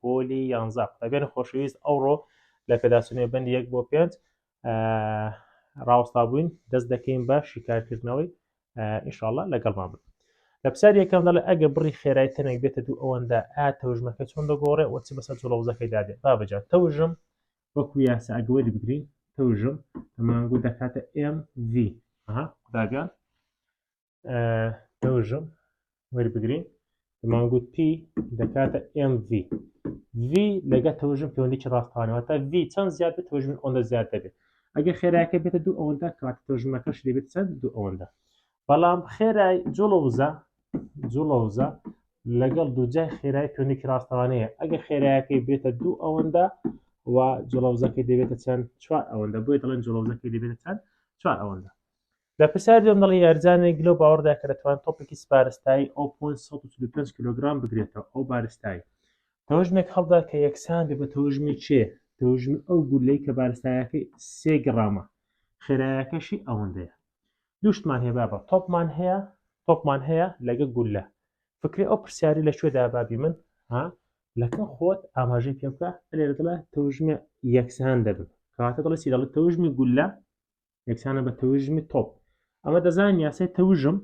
پۆلی یانزە قوتابیانی خۆشەویست ئەوڕۆ لە پێداچنێ بەند یەک بۆ پێنج ڕاوستا بووین دەست دەکەین بە شیکارکردنەوەی ئیشاڵە لەگەڵمان بن لە پسار یەکەم دەڵێ ئەگە بڕی خێرای تەنێک بێتە دوو ئەوەندە ئا تەوژمەکە چۆن دەگۆڕێ وە چ بەسە جوڵەوزەکەی دادێ بابجان تەوژم وەکو یاسا ئەگەوەری بگرین تەوژم تەمانگو دەکاتە MV قوتابیان دەوژم وەربگرین دەمانگووت پی دەکاتە MV V لەگە تەوژم پەیوەندێکی ڕاستانەوە تا V چەند زیاد بێت تەوژمن ئەوەندە زیاد دەبێت ئەگە خێراکە بێتە دوو ئەوەندە کات تەوژمەکەش دەبێت چەند دوو ئەوەندە بەڵام خێرای جوڵەوزە جوڵەوزە لەگەڵ دووجای خێرای پێونێکی ڕاستەوانەیە ئەگە خێرایەکەی بێتە دوو ئەوەندە و جوڵەوزەکەی دەبێتە چەند چوار ئەوەندە بۆی دەڵێن جوڵەوزەکەی دەبێتە چەند چوار ئەوەندە لە پرسیاری دووەم دەڵێ یارزانێک لەو باوەڕدا کە دەتوان تۆپێکی سپارستایی ئەو پۆن سەد و چل و پێنج کیلۆگرام بگرێتەوە ئەو بارستایی تەوژمێک هەڵدا کە یەکسان بێ بە تەوژمی چێ تەوژمی ئەو گولەی کە بارستایەکەی سێ گرامە خێرایەکەشی ئەوەندەیە دوشتمان هەیە بابە تۆپمان هەیە تۆپمان هەیە لەگە گولە فکری ئەو پرسیاری لە کوێدا بابی من ها لەکە خۆت ئاماژەی پێ بکە لێرە دڵە تەوژمێ یەکسان دەبن کەواتە دڵی سی دەڵێت تەوژمی گولە یەکسانە بە تەوژمی تۆپ ئەمە دەزان یاسای تەوژم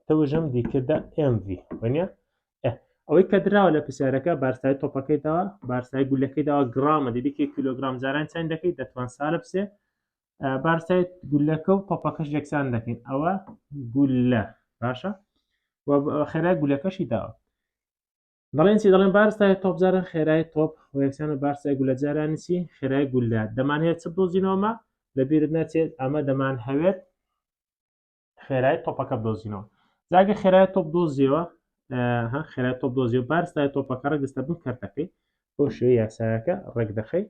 تەوژم دیکردە MV وەنیە ئەوەی کە دراوە لە پرسیارەکە بارسای تۆپەکەیتەوە بارسای گولەکەیداوە گرامە دەبێکی کیلوگرام جاران چەند دەکەیت دەتوان ساە بسێ بارسای گولەکە و تۆپەکەش یەکسان دەکەین ئەوە گولە باشە خێرای گولەکەشی داوە دەڵێن چی دەڵێن بارستای تۆپ جاران خێرای تۆپ و یەکسان و بارسای گولە جارانی چی خێرای گولە دەمانەیە چ بدۆزینەوەمە لەبیرت ناچێت ئەمە دەمان هەوێت خێرای تۆپەکە بدۆزینەوە جاگە خێرای تۆپ دۆزیەوە ها خێرای تۆپ دۆزی و بارستای تۆپەکە ڕگستە بن کردەکەی بۆ شێوی یاساکە ڕێک دەخەی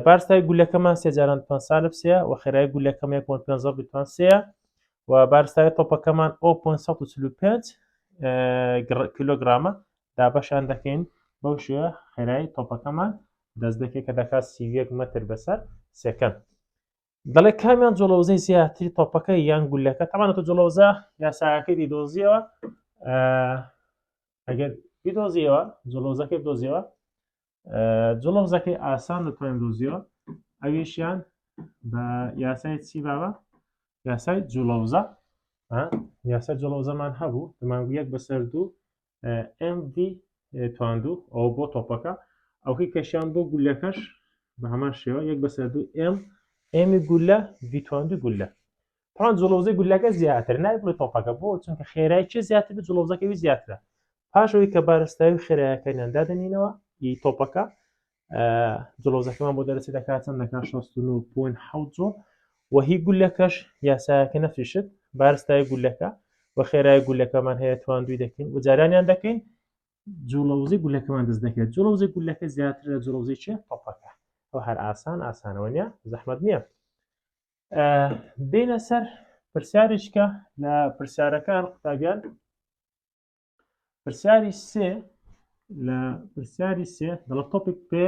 بارستای گولەکەمان سێ جاران پێ سالب سێ و خێرای گولەکەم یەک پێ بتوان سێە و بارستای تۆپەکەمان ئەو 545 کیلوگرامە دابەشان دەکەین بەو شێ خێرای تۆپەکەمان دەست دەکێت کە دەکات سیویەک مەتر بەسەر سێکەند دەڵێ کامیان جۆڵەوزەی زیاتری تۆپەکە یان گولەکە تەمانە تۆ جۆڵەوزە یاساکەی دیدۆزیەوە ئەگەر بیدۆزیەوە جۆڵۆزەکەی دۆزیەوە جڵۆزەکەی ئاسان دەتوانین دۆزیەوە ئەویشیان بە یاسای چی باوە یاسای جوڵەوزە یاسای جڵۆزەمان هەبوو دەمانگو یەک بەسەر دوو MV تواندوو ئەو بۆ تۆپەکە ئەوکەی کەشیان بۆ گولەکەش بە هەمان شێوە یەک بەسەر دوو M ئێمی گولە ڤیتواندو گولە پان جلوزی گولەکە زیاتر نای بڵێ تۆپەکە بۆ چونکە خێرای چێ زیاتر بە جلوزەکەوی زیاترە پاشەوەی کە بارستاوی خێراەکەیان دادەنینەوە ی تۆپەکە جلۆزەکەمان بۆ دەرەچی دەکات چەند دەکات 16.7 جۆ و هی گولەکەش یاسایەکە نەفیشت بارستای گولەکە و خێرای گولەکەمان هەیە توان دوی دەکەین و جارانیان دەکەین جوڵەوزی گولەکەمان دەست دەکرێت جوڵەوزی گولەکە زیاتر لە جوڵەوزی چێ تۆپەکە ئەو هەر ئاسان ئاسانەوە نیە زەحمت نییە بینە سەر پرسیارێکە لە پرسیارەکان قوتابیان پرسیاری سێ لە پرسیاری سێ دەڵە تۆپیک پێ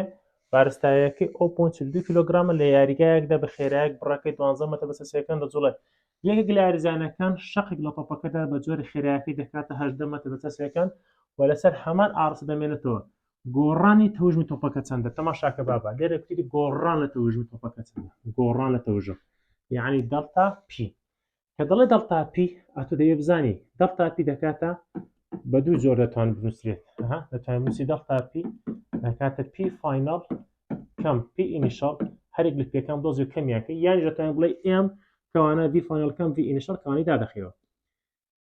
بارستایەکەی ئەو پۆنچ دو کیلوگرامە لە یاریگایەکدا بە خێرایەک بڕەکەی دوانزە مەتە بەسە سێکەن دەجوڵێت یەکێک لە یاریزانەکان شەقێک لە تۆپەکەدا بە جۆری خێرایەکەی دەکاتە هەشدە مەتە بەسە سێکەن و لەسەر هەمان ئارس دەمێنێتەوە گۆڕانی تەوژمی تۆپەکە چەندە تەماشاکە بابا لێرە کوتی گۆڕان لە تەوژمی تۆپەکە چەندە گۆڕان لە تەوژم یعنی دەڵتا پی کە دەڵێ دەڵتا پی ئەتو دەوێ بزانی دەڵتا پی دەکاتە بە دوو جۆر دەتوان بنووسرێت دەتوان موسی دەڵتا پی دەکاتە پی فینال کەم پی ئینیشال هەرێک لە پێکان دۆزی کەمیاکە یان دەتوان بڵێ ئێم کەوانە دی فینال کەم دی ئینیشال کەوانی دادەخەوە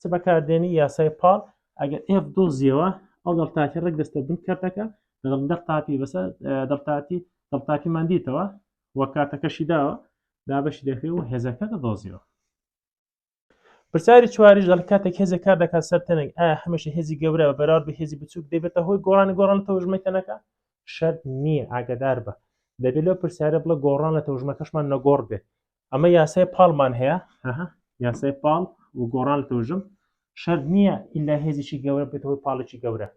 چ بەکاردێنی یاسای پاڵ ئەگەر ئێف دۆزیەوە ئەو دەڵتاکی ڕێک دەستە بن کردەکە لەگەڵ دەق تاپی بەسەر دەڵتاتی دەڵتاکی مادیتەوە وە کاتەکەشی داوە دابەشی دەکرێت و هێزەکە دەدۆزیەوە پرسیاری چواریش دەڵ کاتێک هێزە کار دەکات سەر تەنێک ئایا هەمیشە هێزی گەورە بە بەراورد بە هێزی بچووک دەبێتە هۆی گۆڕانی گۆڕان لە تەوژمەی تەنەکە شەر نییە ئاگدار بە دەبێت لەو پرسیارە بڵە گۆڕان لە تەوژمەکەشمان نەگۆڕ بێت ئەمە یاسای پاڵمان هەیە هەها یاسای پاڵ و گۆڕان تۆژم شەر نییە ئللا هێزیی گەورە بێتەوەی پاڵێکی گەورە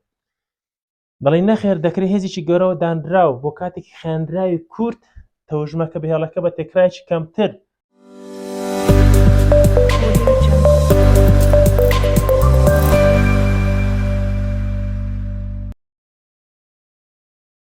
دەڵی نەخێر دەکرێت هێزیی گەورەوە دانراو بۆ کاتێکی خێنراوی کورت تەوژمەکە بهێڵەکە بە تێکرایکی کەمتر